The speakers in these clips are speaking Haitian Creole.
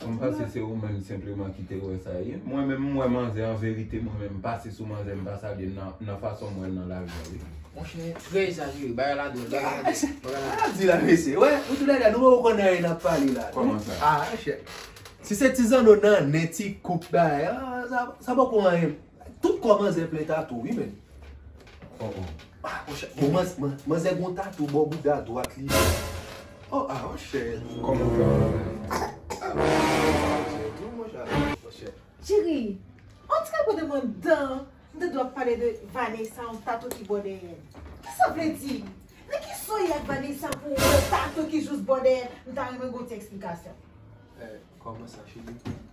M panse se ou menm senpleman ki te wè sa ye. Mwen menm m wè manzè an verite mwen menm m pase sou manzè m pa salye l nan fason m wè l nan lari a wi. Monchè trè ezajere bagay la dwòl bagay la dwòl bagay la dwòl. Sa di la mesye wè nou tou lè dè nou pa ko konn anyen nap pale la. Kòman sa. Ah chè. Si se ti zanno nan nen ti koup bagay ah sa poko anyen. Tout kò manzè plen tatou wi menn. Oh oh. Ah mon chè. Bon manz man manzè gon tatou bò bouda dwat li. Oh ah mon chè. Kòman ou fè wè bagay. Ah mon chè. Manzè dou mon chè. Mon chè. Cheri. On dirait pou te pran dan m te dwe ap pale de Vanessa yon tatou ki bò dèyè l. Kisa w vle di? Nan ki so y ak Vanessa pou w wè tatou ki jous bò dèyè l m ta renmen gen yon ti eksplikasyon. Eh kòman sa cheri.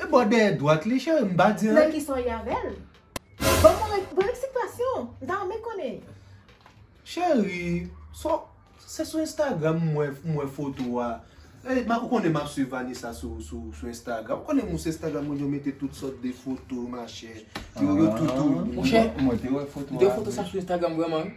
E bò dèyè dwat li cheri m pa di anyen. Nan ki son y avèl? Ban mwen yon bon eksplikasyon. M ta renmen konnen. Cheri, se sou Instagram m wè foto a. Ou konnen m ap swiv Vanessa sou Instagram. Ou konnen mwen sou Instagram mwen yo mete tout sòt de foto machè. Yo tout ou. Mwen te wè foto sa sou Instagram vrèman wi.